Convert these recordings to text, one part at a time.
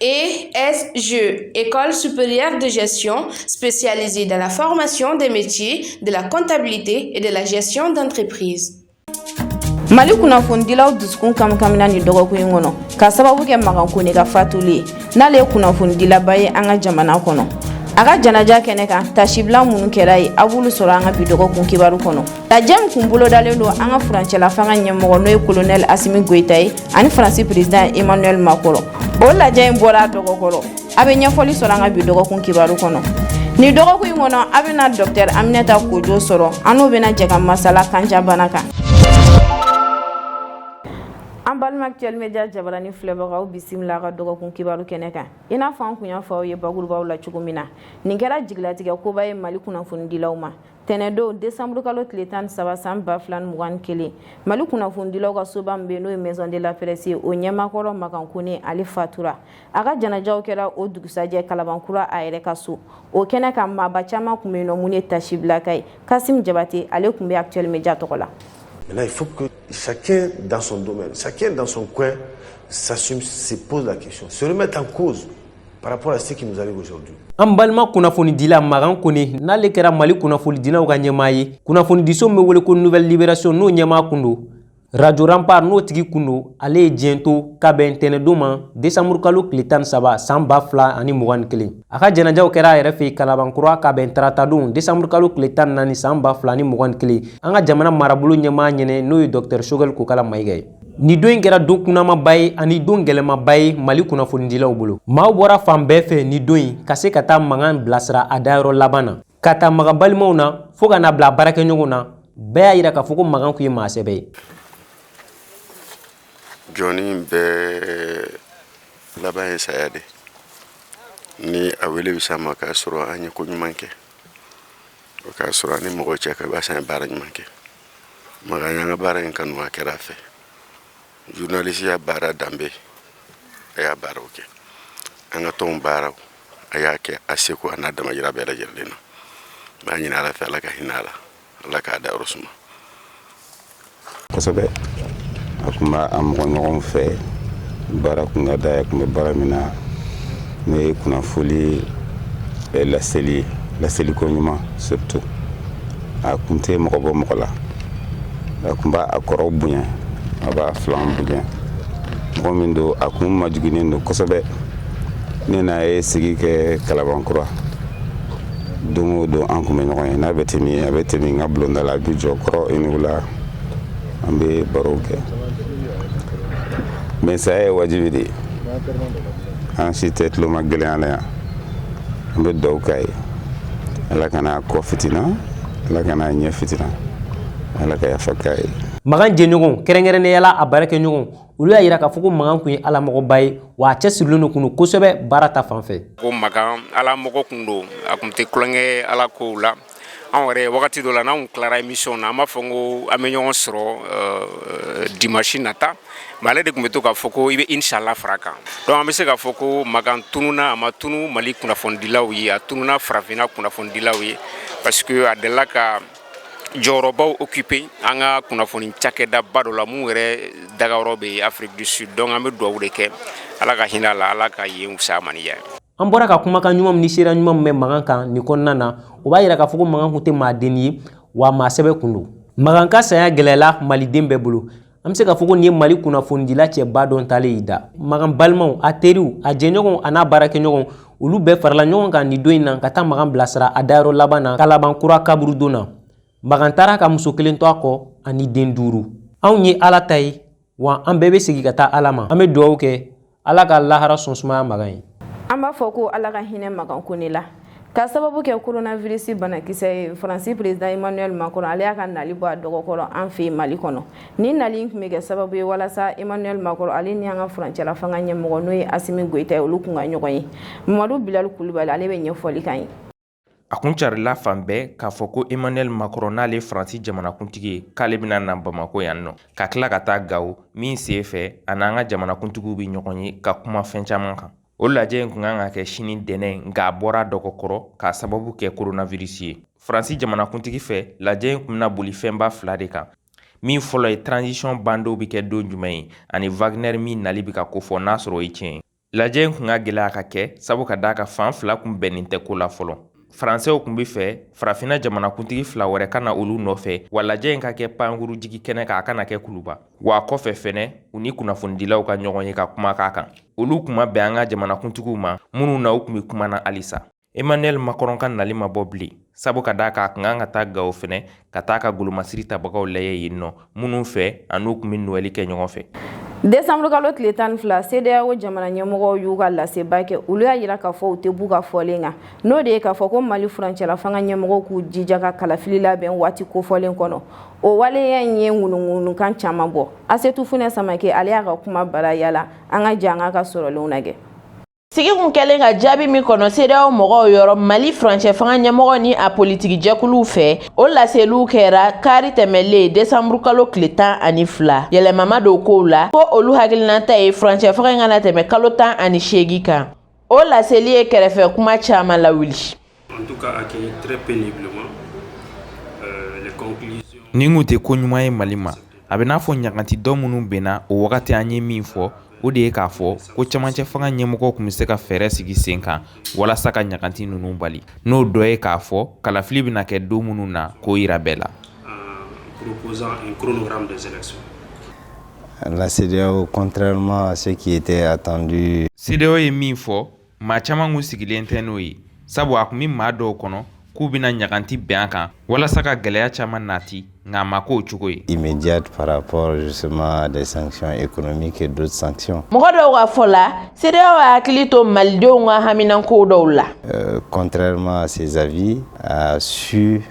ESG, École supérieure de gestion spécialisée dans la formation des métiers de la comptabilité et de la gestion d'entreprise. mali kunnafonidilaw dusukun kamkamina ni dɔgɔkun in kɔnɔ ka sababu kɛ makan kone ka fatuli ye n'ale ye kunnafonidilaba ye an ka jamana kɔnɔ a ka janaja kɛnɛ kan tasibila minnu kɛra yen a b'olu sɔrɔ an ka bi dɔgɔkun kibaru kɔnɔ Lajɛ min kun bolodalen don an ka furancɛla fanga ɲɛmɔgɔ n'o ye colonel Asimi Goyita ye ani Faransi président Emmanuel Macron o lajɛ in bɔra a dɔgɔkɔrɔ a' bɛ ɲɛfɔli sɔrɔ an ka bi dɔgɔkun kibaru kɔnɔ nin dɔgɔkun in kɔnɔ a' bɛna docteur Aminata Kojo sɔrɔ an n'o bɛna jɛ ka masala kanjabana kan an balima actuel media jabarani filɛbagaw bisimila a ka dɔgɔkun kibaru kɛnɛ kan i n'a fɔ an kun y'a fɔ aw ye bakurubaw la cogo min na nin kɛra jigilatigɛ koba ye Mali kunnafonidilaw ma tɛnɛdon desanburukalo tile tan ni saba san ba fila mugan ni kelen mali kunnafonidilaw ka soba min bɛ n'o ye maison de la presse ye o ɲɛmakɔrɔ makan kone ale fatura a ka janajaw kɛra o dugusajɛ kalabankura a yɛrɛ ka so o kɛnɛ kan maaba caman kun bɛ yen n'o minnu ye tasibila kɛ yen kasim jabate ale kun bɛ actuel media tɔgɔ la Maintenant, il faut que chacun dans son domaine, chacun dans son coin, s'assume, se pose la question, se remette en cause. par rapport à ce qui nous arrive aujourd'hui. An balima kunnafonidila Magan Kone n'ale kɛra Mali kunnafonidilaw ka ɲɛmaa ye. Kunnafonidiso min bɛ wele ko Nouvelle Libération n'o ɲɛmaa kun don. Radio Rempart n'o tigi kun don, ale ye diɲɛ to ka bɛn ntɛnɛndon ma décembre kalo tile tan ni saba san ba fila ani mugan ni kelen. A ka janajaw kɛra a yɛrɛ fɛ yen Kalabankura ka bɛn taratadon décembre kalo tile tan ni naani san ba fila ani mugan ni kelen. An ka jamana marabolo ɲɛmaa ɲɛnɛ n'o ye Docteur Choguel Kokala Mayiga ye. Ni don in kɛra don kunamaba ye ani don gɛlɛmaba ye mali kunnafonidilaw bolo maaw bɔra fan bɛɛ fɛ ni don in ka se ka taa magan bilasira a dayɔrɔ laban na k'a ta magan balimaw na fo ka n'a bila baarakɛɲɔgɔnw na bɛɛ y'a yira k'a fɔ ko magan kun ye maa sɛbɛ ye jɔnnin bɛɛ laban ye saya de ni a wele bɛ s'a ma k'a sɔrɔ an ye ko ɲuman kɛ o k'a sɔrɔ an ni mɔgɔ cɛ ka basa ye baara ɲuman kɛ magan y'an ka baara in kanu a kɛra a fɛ journalisiya baara danbe a y'a baaraw kɛ an ka tɔnw baaraw a y'a kɛ a seko an'a damayira bɛɛ lajɛlen na n b'a ɲini ala fɛ ala ka hinɛ a la ala k'a dayɔrɔ suma kosɛbɛ a kun b'a a mɔgɔ ɲɔgɔn fɛ baara kun ka d'a ye a kun bɛ baara min na n'o ye kunnafoli eh, laseli laseliko ɲuman surtout a kun tɛ mɔgɔ bɔ mɔgɔ la a kun b'a a kɔrɔw bonya a b'a filanw bonya mɔgɔ min don a kun majiginen don kosɛbɛ ne n'a ye sigi kɛ kalabankura don o don an kun bɛ ɲɔgɔn ye n'a bɛ tɛmɛ a bɛ tɛmɛ n ka bulonda la a b'i jɔ kɔrɔ iniw la an bɛ barow kɛ mais saya ye wajibi de ye an si tɛ tuloma gɛlɛya na yan an bɛ dugawu k'a ye ala kan'a kɔ fitina ala kan'a ɲɛ fitina ala ka yafa k'a ye magan jɛɲɔgɔn kɛrɛnkɛrɛnnenya la a baarakɛɲɔgɔn olu y'a yira k'a fɔ ko magan kun ye alamɔgɔba ye wa a cɛsirilen don kun don kosɛbɛ baara ta fan fɛ ko magan alamɔgɔ kun don a kun tɛ tulonkɛ ala kow la an yɛrɛ wagati dɔ la n'anw tilara émission na an b'a fɔ ko an bɛ ɲɔgɔn sɔrɔ euh, dimanche nata mais ale de kun bɛ to k'a fɔ ko i bɛ inshallah far'a kan donc an bɛ se k'a fɔ ko magan tununa a ma tunu mali kunnafonidilaw ye a tununa farafinna kunnafonidilaw ye parce que a delila ka jɔyɔrɔbaw occupé an ka kunnafoni cakɛdaba dɔ la mun yɛrɛ dagayɔrɔ bɛ Afrique du Sud donc an bɛ dugawu de kɛ Ala ka hinɛ a la Ala ka yen wusaya a ma ni yan an bɔra ka kumakan ɲuman min ni seereya ɲuman min bɛ magan kan nin kɔnɔna na o b'a yira k'a fɔ ko magan kun tɛ maadennin ye wa maa sɛbɛ kun don magan ka saya gɛlɛyala maliden bɛɛ bolo an bɛ se k'a fɔ ko nin ye mali kunnafonidila cɛba dɔ taalen y'i da magan balimaw a teriw a jɛɲɔgɔnw a n'a baarakɛɲɔgɔnw olu bɛɛ farala ɲɔgɔn kan nin don in na ka taa magan bilasira a dayɔrɔ laban na kalabankura kaburudon na magan taara ka muso kelen to a kɔ ani den duuru anw ye ala ta ye wa an bɛɛ bɛ segin ka taa ala ma an bɛ dugawu kɛ ala ka lahara so sumaya magan ye an b'a fɔ ko ala ka hinɛ magan kone la k'a sababu kɛ koronavirisi banakisɛ ye faransi perezidan emmanuel macron ale y'a ka nali bɔ a dɔgɔkɔrɔ an fɛ mali kɔnɔ ni nali in kun bɛ kɛ sababu ye walasa emmanuel macron ale ni an ka furancɛla fanga ɲɛmɔgɔ n'o ye asimi goyita ye olu kun ka ɲɔgɔn ye mamadu bilali kulubali ale b'a ɲɛfɔli k'an ye a kun carila fan bɛɛ k'a fɔ ko emmanuel macron n'ale faransi jamanakuntigi ye k'ale bɛna na bamakɔ yan nɔ ka tila ka taa gawo min sen fɛ a n'an ka jamanakuntigiw bɛ ɲɔgɔn ye ka kuma fɛn caman kan o lajɛ in kun kan ka kɛ sini ntɛnɛn nka a bɔra dɔgɔkɔrɔ k'a sababu kɛ koronavirisi ye faransi jamanakuntigi fɛ lajɛ in kun bɛna boli fɛnba fila de kan min fɔlɔ ye transition bandon bɛ kɛ don jumɛn ye ani wagner min nali bɛ ka kofɔ n'a sɔrɔ o ye tiɲɛ ye lajɛ in kun ka gɛlɛn a ka kɛ sabu ka d'a kan fan fila kun bɛnnen tɛ ko la fɔlɔ faransɛw kun b'a fɛ farafina jamanakuntigi fila wɛrɛ ka na olu nɔfɛ wa lajɛ in ka kɛ pankurunjigikɛnɛ kan a kana kɛ kuluba wa kɔfɛ fɛnɛ u ni kunnafonidilaw ka ɲɔgɔn ye ka kuma k'a kan olu kun ma bɛn an ka jamanakuntigiw ma minnu na u kun bɛ kuma na halisa emmanuel macron ka nali ma bɔ bilen sabu ka d'a kan a kun ka kan ka taa gawo fɛnɛ ka taa ka golomasiri tabagaw lajɛ yen nɔ minnu fɛ a n'u kun bɛ nowɛli kɛ ɲɔgɔn fɛ desanburukalo tile tan ni fila cedeao jamana ɲɛmɔgɔw y'u ka laseba kɛ olu y'a yira k'a fɔ u tɛ b'u ka fɔlen kan n'o de ye k'a fɔ ko mali furancɛla fanga ɲɛmɔgɔw k'u jija ka kalafili labɛn waati kofɔlen kɔnɔ o waleya in ye ŋunuŋunukan caman bɔ asetu funɛ samake ale y'a ka kumabara yaala an ka jɛn k'a ka sɔrɔlenw na kɛ Sigi kun kɛlen ka jaabi min kɔnɔ CEDEAO mɔgɔw yɔrɔ mali furancɛ fanga ɲɛmɔgɔ ni a politiki jɛkuluw fɛ o laseliw kɛra kari tɛmɛlen desanburukalo tile tan ani fila yɛlɛma ma don kow la ko olu hakilinata ye furancɛ fanga in kana tɛmɛ kalo tan ani seegin kan o laseli ye kɛrɛfɛ kuma caman lawuli Nin tun tɛ ko ɲuman ye mali ma a bɛ n'a fɔ ɲaganti dɔ minnu bɛnna o wagati an ye min fɔ o de ye k'a fɔ ko camancɛ fanga ɲɛmɔgɔ tun bɛ se ka fɛɛrɛ sigi sen kan walasa ka ɲaganti ninnu bali n'o dɔ ye k'a fɔ kalafili bɛna kɛ don minnu na k'o jira bɛɛ la la CEDEAO contrairement à ce qui était attendu CEDEAO ye min fɔ maa caman kun sigilen tɛ n'o ye sabu a tun bɛ maa dɔw kɔnɔ k'u bɛna ɲaganti bɛn a kan walasa ka gɛlɛya caman nati nka a ma k'o cogo ye immédiate par rapport justement à des sanctions économiques et d'autres sanctions. Mɔgɔ dɔw ka fɔ la, CEDEAO y'a hakili to malidenw ka haminanko dɔw la. Euh, contrairement à ses avis, a su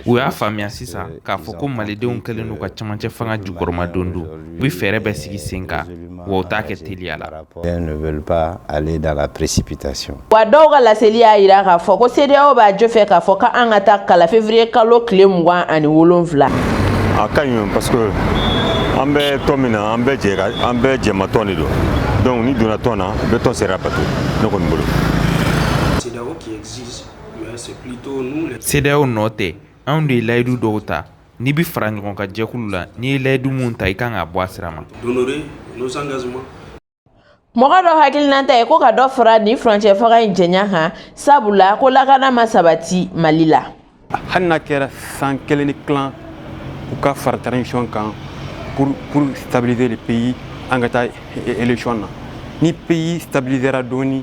U y'a faamuya sisan euh, k'a fɔ ko malidenw kɛlen don ka camancɛ fanga jukɔrɔmadondon u bɛ fɛɛrɛ bɛɛ sigi sen kan wa u t'a kɛ teliya la wa dɔw ka laseli y'a jira k'a fɔ ko CEDEAO b'a jo fɛ k'a fɔ ko an ka taa kala février kalo tile mugan ani wolonwula a ka ɲi parce que an bɛ tɔn min na an bɛɛ jɛ an bɛɛ jɛma tɔn de don donc n'i donna tɔn na i bɛ tɔn sariya bato ne kɔni bolo CEDEAO nɔ tɛ anw de ye layidu dɔw ta n'i bɛ faraɲɔgɔnkan jɛkulu la n'i ye layidu minnu ta i kan ka bɔ a sira ma mɔgɔ dɔ hakilinata ye ko ka dɔ fara nin furancɛ fanga in janya kan sabu la ko lakana ma sabati mali la hali n'a kɛra san kelen ni tilan u ka fara transition kan pour stabiliser le pays an ka taa élection na ni pays stabilisera dɔɔnin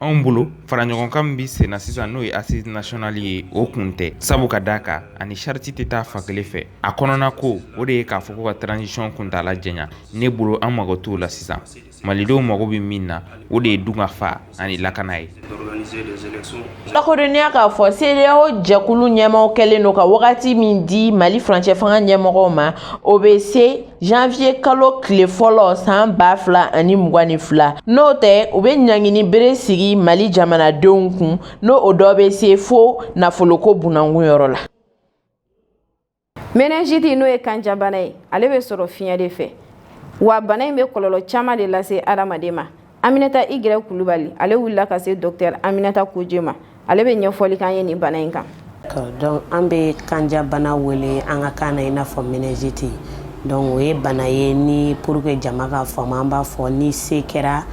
anw bolo fara ɲɔgɔn kan min bɛ sen na sisan n'o ye assises nationales ye o kun tɛ sabu ka d'a kan a ni charte tɛ taa fan kelen fɛ a kɔnɔnako o de ye k'a fɔ ko ka transition kuntaala janya ne bolo an mago t'o la sisan malidenw mago bɛ min na o de ye dunkafa ani lakana ye lakodɔnniya k'a fɔ CEDEAO jɛkulu ɲɛmaaw kɛlen don ka wagati min di Mali furancɛfanga ɲɛmɔgɔw ma o bɛ se janvier kalo tile fɔlɔ san ba fila ani mugan ni fila n'o tɛ u bɛ ɲangini bere sigi mali jamanadenw kun n'o o dɔ bɛ se fo nafoloko bunankun yɔrɔ la méningite n'o ye kanjabana ye ale bɛ sɔrɔ fiɲɛ de fɛ wa bana in bɛ kɔlɔlɔ caman de lase adamaden ma Aminata I gɛrɛ Kulubali ale wulila ka se docteur Aminata Kojie ma ale bɛ ɲɛfɔli k'an ye nin bana in kan. Donc an bɛ kanjabana wele an ka kan na i n'a fɔ méningite donc o ye bana ye ni pour que jama ka faamu an b'a fɔ ni se kɛra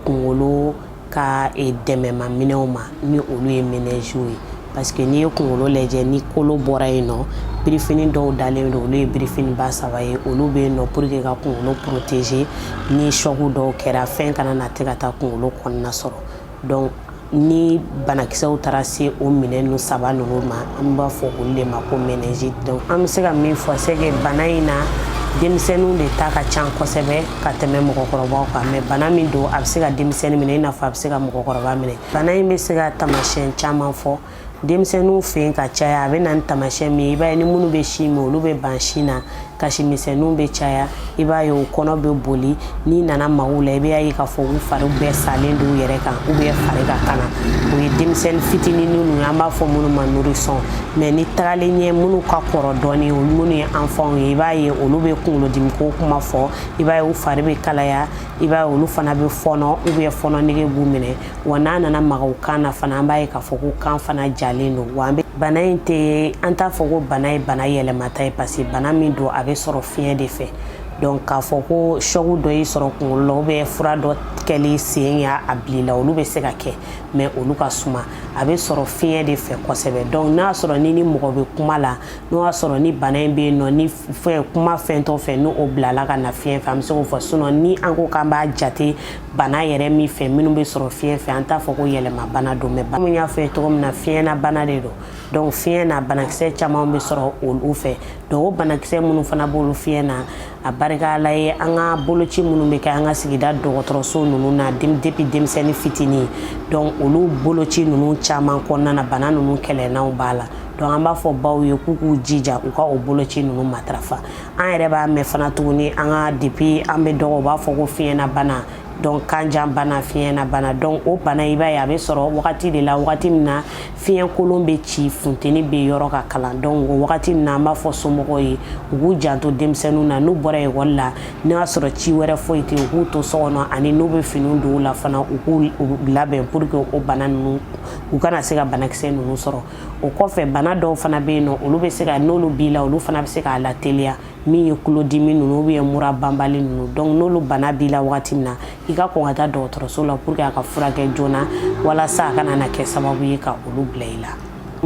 kunkolo ka dɛmɛma minɛnw ma ni olu ye méninges ye. parce que n'i ye kunkolo lajɛ ni kolo bɔra yen nɔ birifini dɔw dalen don olu ye birifini ba saba ye olu bɛ yen nɔ pour que ka kunkolo protéger ni choc dɔw kɛra fɛn kana na tɛ ka taa kunkolo kɔnɔna sɔrɔ donc ni banakisɛw taara se o minɛn ninnu saba ninnu ma an b'a fɔ olu de ma ko méningite donc an bɛ se ka min fɔ c'est que bana in na denmisɛnninw de ta ka ca kosɛbɛ ka tɛmɛ mɔgɔkɔrɔbaw kan mais bana min don a bɛ se ka denmisɛnnin minɛ i n'a fɔ a bɛ se ka mɔgɔkɔrɔba minɛ bana in bɛ se ka taamasiyɛn caman fɔ denmisɛnninw fɛ yen ka caya a bɛ na ni taamasiyɛn min ye i b'a ye ni minnu bɛ sin min olu bɛ ban sin na kasi misɛnninw bɛ caya i b'a ye u kɔnɔ bɛ boli n'i nana maga u la i b'a ye k'a fɔ u fari bɛɛ salen don u yɛrɛ kan ou bien fari ka kalan o ye denmisɛnnin fitinin ninnu ye an b'a fɔ minnu ma nourrisson mais ni tagalen ɲɛ minnu ka kɔrɔ dɔɔnin olu minnu ye enfants ye i b'a ye olu bɛ kunkolodimiko kuma fɔ i b'a ye u fari bɛ kalaya i b'a ye olu fana bɛ fɔnɔ ou bien fɔnɔ nege b'u minɛ wa n'an nana maga u kan na fana an b'a ye k'a fɔ ko kan fana jalen don wa an bɛ bana in tɛ an t'a fɔ ko bana ye bana yɛlɛmata ye parce que bana min don a bɛ sɔrɔ fiɲɛ de fɛ donc k'a fɔ ko choc dɔ y'i sɔrɔ kunkolo la ou bien fura dɔ kɛli sen y'a bil'i la olu bɛ se ka kɛ mais olu ka suma a bɛ sɔrɔ fiɲɛ de fɛ kosɛbɛ donc n'a sɔrɔ ni ni mɔgɔ bɛ kuma la n'o y'a sɔrɔ ni bana in bɛ yen nɔ ni fɛn kuma fɛn tɔ fɛ n'o bilala ka na fiɲɛ fɛ an bɛ se k'o fɔ sinon ni an ko k'an b'a jate bana yɛrɛ min fɛ minnu bɛ sɔrɔ fiɲɛ fɛ an t'a fɔ ko yɛlɛma bana don mais bana y'a fɔ ye cogo min na fiɲɛ na bana de don donc fiɲɛ na banakisɛ caman bɛ sɔrɔ olu fɛ donc o banakisɛ minnu fana b'olu fiɲɛ na a barika Ala ye an ka boloci minnu bɛ kɛ an ka sigida dɔgɔtɔrɔso ninnu na depuis denmisɛnnin fitinin donc olu boloci ninnu caman kɔnɔna na bana ninnu kɛlɛlanw b'a la donc an b'a fɔ baw ye k'u k'u jija u ka o boloci ninnu matarafa an yɛrɛ b'a mɛn fana tuguni an ka depuis an bɛ dɔgɔ u b'a fɔ ko fiɲɛna bana donc kanjabana fiɲɛna bana donc o bana i b'a ye a bɛ sɔrɔ wagati de la wagati min na fiɲɛkolon bɛ ci funteni bɛ yɔrɔ ka kalan donc o wagati na an b'a fɔ somɔgɔw ye u k'u janto denmisɛnninw na n'u bɔra ekɔli la n'o y'a sɔrɔ ci wɛrɛ foyi tɛ u k'u to so kɔnɔ ani n'u bɛ finiw don u la fana u k'u labɛn pour que o bana ninnu u kana se ka banakisɛ ninnu sɔrɔ o kɔfɛ bana dɔw fana bɛ yen nɔ olu bɛ se ka n'olu b'i la olu fana bɛ se k'a lateliya min ye kulodimi ninnu ou bien mura banbali ninnu donc n'olu bana b'i la wagati min na i ka kɔn ka taa dɔgɔtɔrɔso la pour que a ka furakɛ joona walasa a kana na kɛ sababu ye ka olu bila i la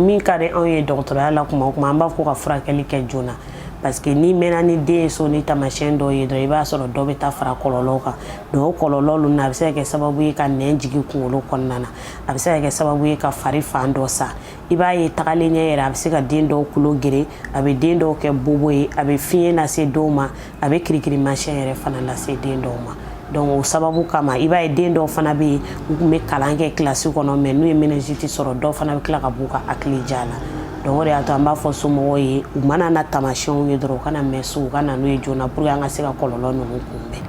min ka di anw ye dɔgɔtɔrɔya la kuma o kuma an b'a fɔ ka furakɛli kɛ joona parce que n'i mɛnna ni den ye so ni taamasiyɛn dɔw ye dɔrɔn i b'a sɔrɔ dɔ bɛ taa fara kɔlɔlɔw kan donc o kɔlɔlɔ ninnu na a bɛ se ka kɛ sababu ye ka nɛn jigin kunkolo kɔnɔna na a bɛ se ka kɛ sababu ye ka fari fan dɔ sa i b'a ye tagalen ɲɛ yɛrɛ a bɛ se ka den dɔw kulo geren a bɛ den dɔw kɛ bobo ye a bɛ fiɲɛ lase dɔw ma a bɛ kirikirimasiyɛn yɛrɛ fana lase den dɔw ma donc o sababu kama i b'a ye den dɔw fana bɛ yen u tun bɛ kalan kɛ kilasi kɔnɔ mais n'u ye méningite sɔrɔ dɔw fana bɛ tila ka b'u ka hakili ja la donc o de y'a to an b'a fɔ somɔgɔw ye u mana na taamasiyɛnw ye dɔrɔn u kana mɛn so u ka na n'u ye joona pour que an ka se ka kɔlɔlɔ ninnu kunbɛn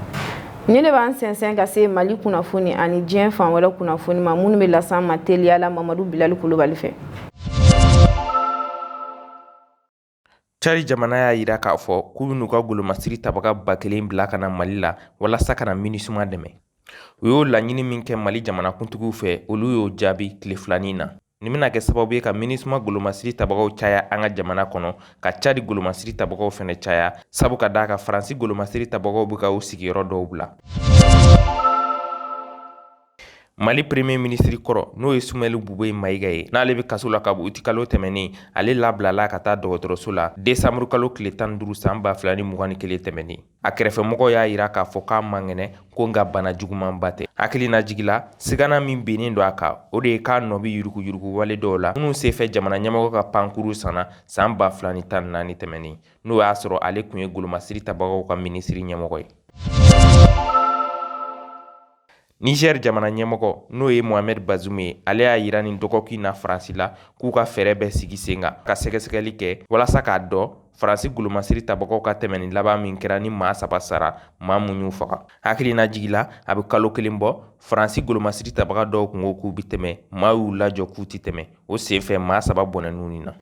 Nin de b'an sɛnsɛn ka se mali kunnafoni ani diɲɛ fan wɛrɛ kunnafoni ma minnu bɛ las'an ma teliya la mamadu bilali kulubali fɛ cadi jamana y'a jira k'a fɔ k'u bɛn'u ka golomasiri tabaga ba kelen bila ka na mali la walasa ka na minisuma dɛmɛ u y'o laɲini min kɛ mali jamanakuntigiw fɛ olu y'o jaabi tile filanin na Nin bɛna kɛ sababu ye ka minisuma golomasiri tabagaw caya an ka jamana kɔnɔ ka cadi golomasiri tabagaw fana caya sabu ka d'a kan faransi golomasiri tabagaw bɛ ka u sigiyɔrɔ dɔw bila mali premier ministre kɔrɔ n'o ye sumɛli bubeyi mayiga ye n'ale bɛ kaso la kabi utikalo tɛmɛnnen ale labilala ka taa dɔgɔtɔrɔso la desanburukalo tile tan duuru san ba fila ni mugan ni kelen tɛmɛnnen a kɛrɛfɛmɔgɔw y'a jira k'a fɔ k'a man kɛnɛ ko nka bana jugumanba tɛ hakilinajigi la sigana min bennen don a kan o de ye k'a nɔ bɛ yuruguyurugu wale dɔw la minnu senfɛ jamana ɲɛmɔgɔ ka pankuru sanna san ba fila ni tan naani tɛmɛnen n'o y'a sɔrɔ ale tun ye golomasiri tabagaw ka minisiri ɲɛmɔgɔ ye Nizɛri jamana ɲɛmɔgɔ n'o ye mohamɛd bazum ye ale y'a jira nin dɔgɔkun in na faransi la k'u ka fɛɛrɛ bɛɛ sigi sen kan ka sɛgɛsɛgɛli kɛ walasa k'a dɔn faransi golomasiri tabagaw ka tɛmɛnni laban min kɛra ni maa saba sara maa mun y'u faga hakilinajigi la a bɛ kalo kelen bɔ faransi golomasiri tabaga dɔw tun ko k'u bɛ tɛmɛ maa y'u lajɔ k'u tɛ tɛmɛ o senfɛ maa saba bɔnɛn'u nin na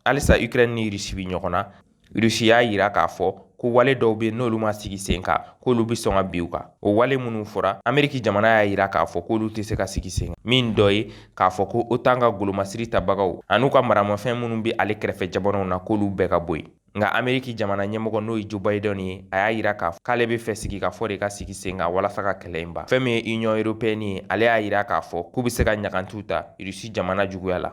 halisa ikrɛni ni rusi bɛ ɲɔgɔn na Rusi y'a jira k'a fɔ ko wale dɔw bɛ n'olu ma sigi sen kan k'olu bɛ sɔn ka bin u kan o wale minnu fɔra ameriki jamana y'a jira k'a fɔ k'olu tɛ se ka sigi sen kan min dɔ ye k'a fɔ ko otan ka golomasiri tabagaw an'u ka maramafɛn minnu bɛ ale kɛrɛfɛ jamanaw na k'olu bɛɛ ka bɔ yen nka ameriki jamana ɲɛmɔgɔ n'o ye jo bayidɛn ye a y'a jira k'ale b'a fɛ sigikafɔ de ka sigi sen kan walasa ka kɛlɛ in ban fɛn min ye union européenne ye ale y'a jira k'a fɔ k'u bɛ se ka ɲagantiw ta rusi jamana juguya la